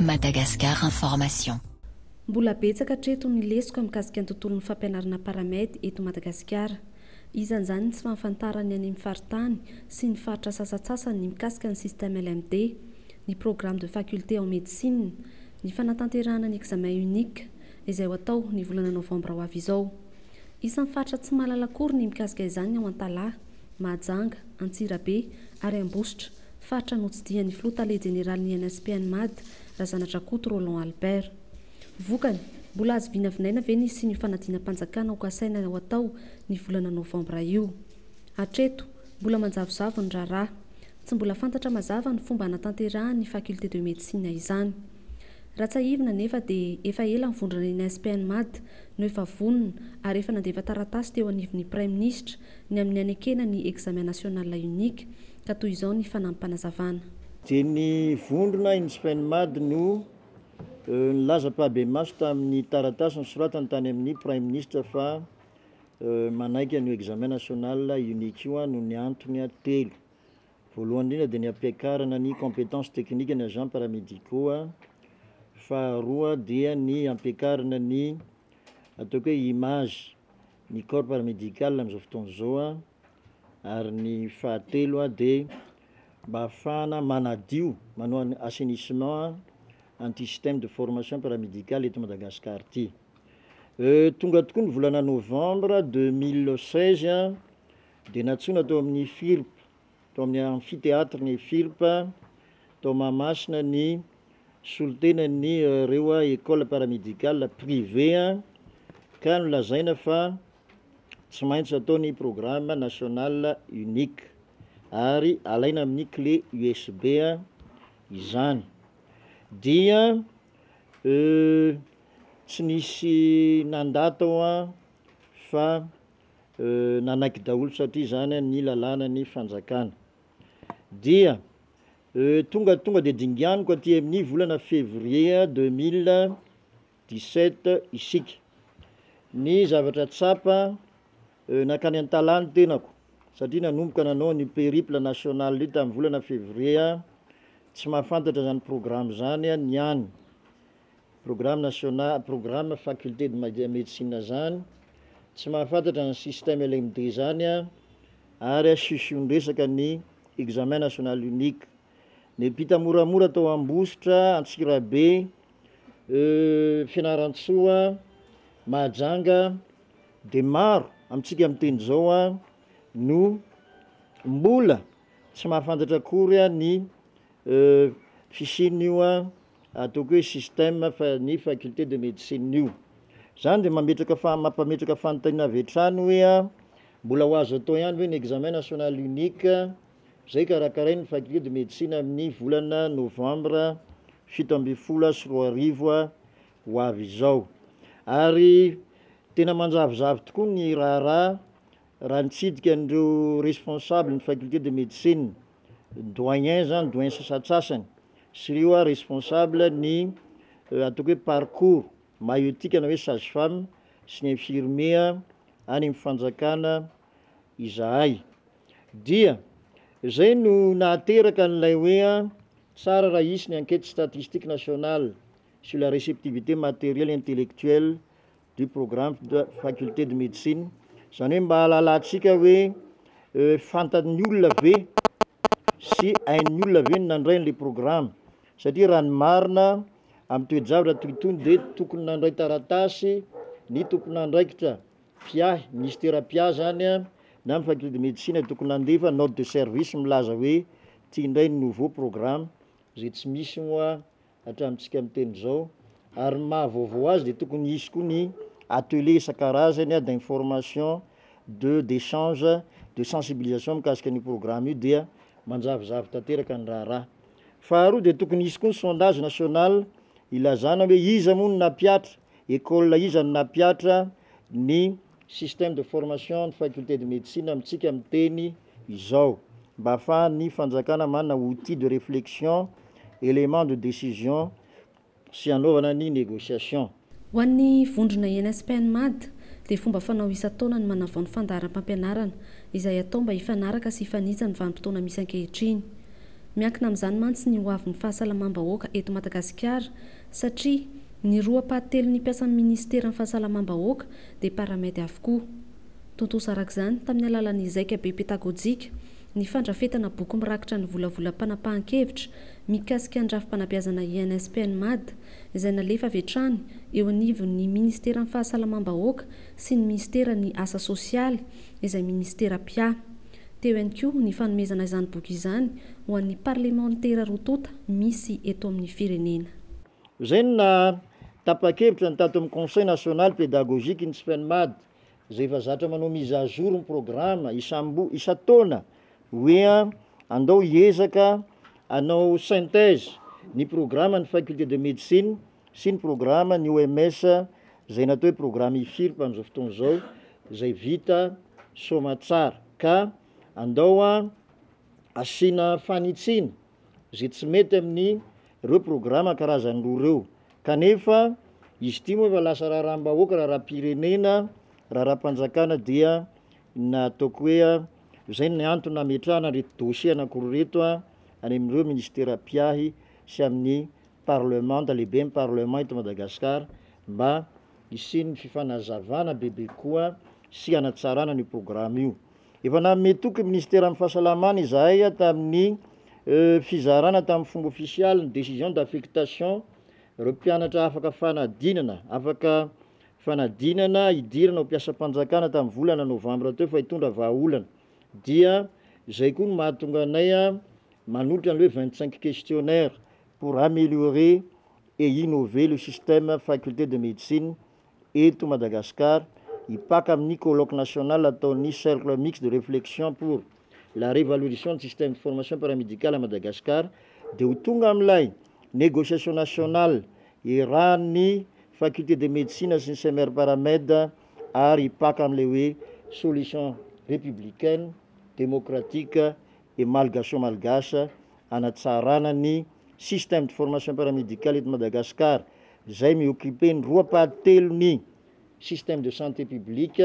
Madagascar Information. Mbola betsaka hatreto ny lesoka mikasika ny tontolon'ny fampianarana Paramed eto Madagasikara. Isan'izany ny tsy fahafantarany ny any amin'ny faritany sy ny faritra sasantsasany ny mikasika ny système LMD, ny programme de faculté en médecine, ny fanatanterahana ny examen unique, izay ho atao ny volana novambra ho avy izao. Isan'ny faritra tsy mahalala akory ny mikasika izany ny ao Antalaha, Mahajanga, Antsirabe ary Ambositra, faritra notsidihan'ny filoha tale jeneralin'ny INSPN-Mad, Razanadrakoto Roland Albert. Vokany, mbola azo vinavinaina ve ny hisian'io fanadinam-panjakana ho kasaina ho atao ny volana novambra io? Hatreto, mbola manjavozavo ny raharaha. Tsy mbola fantatra mazava ny fomba hanatanterahan'ny Faculté de Médecine izany. Raha tsiahivina anefa dia efa ela nivondrona ny Inspmad no efa vonona ary efa nandefa taratasy teo anivon'ny Praiminisitra ny amin'ny hanekena ny Examen National Unique ka toy izao ny fanamim-panazavana. Dia ny vondrona Inspmad no. Nilaza Pabemaso tamin'ny taratasy nosoratany tany amin'ny Praiminisitra fa manaiky an'io Examen National Unique io aho noho ny antony telo. Voalohany indrindra dia ny hampiakarana ny compétences techniques an'ny agents paramédicaux a. Faharoa dia ny hampiakarana ny ataoko hoe image ny corps paramédical amin'izao fotoana izao ary ny fahatelo dia mba hahafahana manadio manao ny assainissement an'ity système de formation paramédical eto Madagasikara ity. Tonga tokoa ny volana novambra deux mille seize dia nantsoina tao amin'ny FIRP tao amin'ny Amphithéâtre ny FIRP tao Mahamasina ny solontenan'ny ireo école paramédicale privée ka nolazaina fa tsy maintsy atao ny programme national unique ary alaina amin'ny clé USB izany dia euh, tsy nisy nandà tao an fa nanaiky daholo satria izany ny lalàna ny fanjakana. Dia tonga tonga dia dinganiko aty amin'ny volana février deux mille dix sept isika. Ny zavatra tsapa nankany an-talà ny tenako satria nanomboka nanao ny périple national io tamin'ny volana février tsy mahafantatra izany programme izany ny any. Programme national programme faculté de made médecine zany tsy mahafantatra ny système LMD zany a ary asio ny resaka ny examen national unique nipita moramora tao ambositra antsirabe euh fianarantsoa mahajanga de maro amintsika miteny zao a no mbola Tsy mahafantatra akory aho ny fisian'io ataoko hoe système ny faculté de médecine io. Zany dia mametraka fa- mampametraka fanontaniana avy hatrany hoe mbola ho azo atao ihany ve ny examen national unique izay karakarain'ny faculté de médecine amin'ny volana novambra fito ambin'ny folo sy roa arivo ho avy izao. Ary tena manjavozavo tokoa ny raharaha Raha nitsidika an'ireo responsable ny faculté de médecine, doyen zany, doyen sasantsasany sy ireo a responsable ny ataoko hoe parcours maiotique ana hoe sage femme sy ny infirmier any amin'ny fanjakana izahay dia zay no nahateraka an'ilay hoe a tsara raha hisy ny enquête statistique nationale sur la réceptivité matérielle intellectuelle du programme de faculté de médecine, izany hoe mba hahalalantsika hoe fantan'ny olona ve sy hain'ny olona ve ny nandray an'ilay programme satria raha ny marina amin'ny toe-javatra toy itony dia tokony nandray taratasy ny tompon'andraikitra mpiahy, minisitera mpiahy izany an, na ny faculté de médecine tokony nandefa note de service milaza hoe ity indray ny nouveau programme izay tsy misy moa hatramintsika miteny izao ary ny maha vaovao azy dia tokony hisy koa ny atelier isan-karazany d'information de d'echange de sensibilisation mikasika an'io programme io dia manjavozavo tanteraka ny raharaha. Faharoa dia tokony hisy koa ny sondage national hilazana hoe iza moa no nampihatra, école iza no nampihatra ny Système de formation ny faculté de médecine amintsika miteny izao mba ahafahan'ny fanjakana manana outil de réflexion, élément de décision sy hanaovana ny négociation. Ho an'ny vondrona ENSPNMAD dia fomba fanao isan-taona ny manavao ny fandaharam-pampianarana izay atao mba hifanaraka sy hifanitsy amin'ny vanim-potoana misy ankehitriny. Miankina amin'izany mantsy ny ho avin'ny fahasalamam-bahoaka eto Madagasikara satria ny roa ampahatelon'ny mpiasan'ny Minisiteran'ny Fahasalamam-bahoaka dia paramedy avokoa. Tontosa araka izany, tamin'ny alalan'ny zaika be petagojika, ny fandrafetana boky mirakitra ny volavolam-panapahan-kevitra mikasika ny rafi-panabeazana INSPNMAD izay nalefa avy hatrany eo anivon'ny Minisiteran'ny Fahasalamam-bahoaka sy ny Minsiteran'ny Asa Sosialy izay Minisitera mpiahy Teo ihany koa ny fanomezana izany boky izany ho an'ny parlemantera roa tonta misy eto amin'ny firenena. Izay no naha tapa-kevitra ny tato amin'ny Conseil national pédagogique ny Cpenmad izay efa zatra manao mise à jour ny programa isam-bo isan-taona hoe andao hiezaka hanao synthèse ny programa ny faculté de médecine sy ny programa ny OMS izay natao hoe programa IFIRP amin'izao fotoana izao izay vita soamatsara ka andao a asiana fanitsiana izay tsy mety amin'ny ireo programa karazany roa ireo kanefa izy ity moa efa lasa raharaham-bahoaka raharaham-pirenena raharaham-panjakana dia nataoko hoe a izay ny antony nametrahana ireto dosie anankiroa ireto a any amin'ireo ministera mpiahy sy amin'ny Parlemanta, lehiben'ny Parlement eto Madagascar mba hisian'ny fifanazavana bebe kokoa sy hanatsarana an'io programa io. Efa nanome toky ny Minisiteran'ny Fahasalamana izahay tamin'ny fizarana tamin'ny fomba ofisialy ny décision d'affectation ireo mpianatra afaka fanadinana, afaka fanadinana hidirana ho mpiasam-panjakana tamin'ny volana novambra teo fa hitondra vahaolana. Dia izay koa no mahatonga anay manolotra ny hoe 25 questionnaires pour améliorer et innover le système faculté de médecine eto Madagascar hipaka amin'ny colloque national ataon'ny Cercle mixte de réflexion pour la révalorition du système de formation paramédicale à Madagascar dia ho tonga amin'ilay négociation national iarahan'ny faculté de médecine sy ny Semer-Paramed ary hipaka amin'ilay hoe solution républicaine, démocratique, et malgacho-malgache hanatsarana ny système de formation paramédicale eto Madagascar izay mi occuper ny roa paha telo ny système de santé publique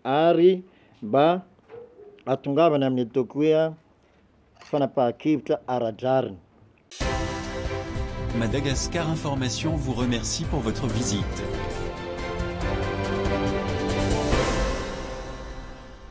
ary mba hatongavana amin'ny ataoko hoe fanapahan-kevitra ara-drariny. Madagascar Information vous remercie pour votre visite.